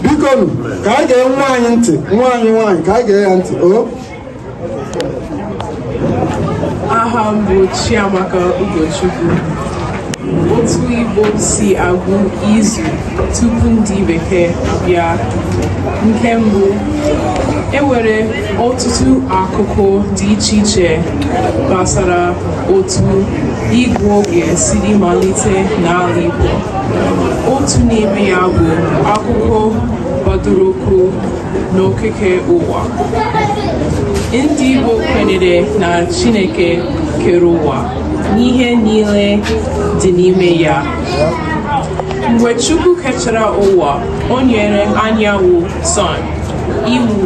bikonu ka anyị gee nwaanyị ntị nwaanyị nwaanyị ka anyị gee ya ntị o aha m bụ Chiamaka Ugochukwu otu Igbo si agụ izu tupu ndị bekee abịa nke mbụ e nwere ọtụtụ akụkọ dị iche iche gbasara otu ịgụ oge siri malite n'ala Igbo otu n'ime ya bụ akụkọ gbadoro ụkwụ n'okike ụwa ndị Igbo kwenyere na Chineke kere ụwa na ihe niile dị n'ime ya mgbe Chukwu kechara ụwa o nyere anyanwụ sun iwu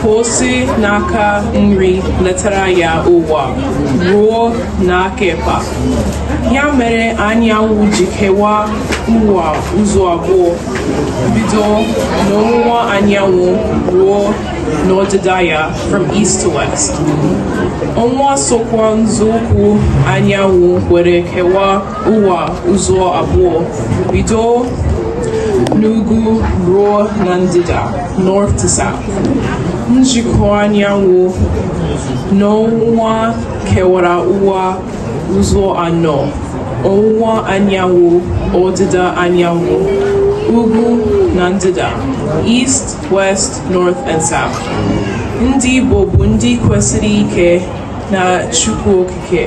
ka o si n'aka nri letara ya ụwa ruo n'aka ịkpa ya mere anyanwụ ji kewaa ụwa ụzọ abụọ bido n'ọwụwa anyanwụ ruo n'ọdịda ya from east to west ọnwa sokwa nzọụkwụ anyanwụ were kewaa ụwa ụzọ abụọ bido n'ugwu ruo na ndịda north to south njikọ anyanwụ na ọnwa kewara ụwa ụzọ anọ ọwụwa anyanwụ ọdịda anyanwụ ugwu na ndịda east west north and south ndị Igbo bụ ndị kwesiri ike na Chukwu nke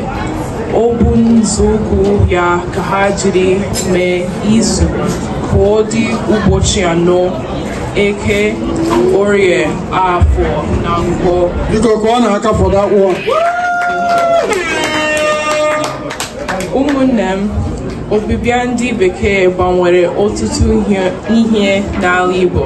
ọ bụ nzọụkwụ ya ka ha jiri mee izu ka ọ dị ụbọchị anọ eke orie afọ na nkwọ biko ka ọ na-aka fọdụ akpụ ụmụnne m ọbịbịa ndị bekee gbanwere ọtụtụ ihe n'ala Igbo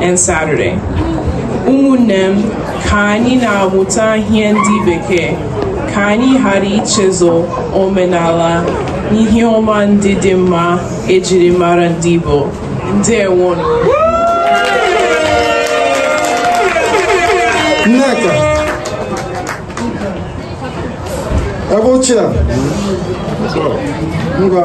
and Saturday. Ụmụnne m, ka anyị na-amụta ihe ndị bekee ka anyị ghara ichezọ omenala na ihe ọma ndị dị mma e jiri mara ndị Igbo. Ndewonụ. Nneka ebe ochie a ngwa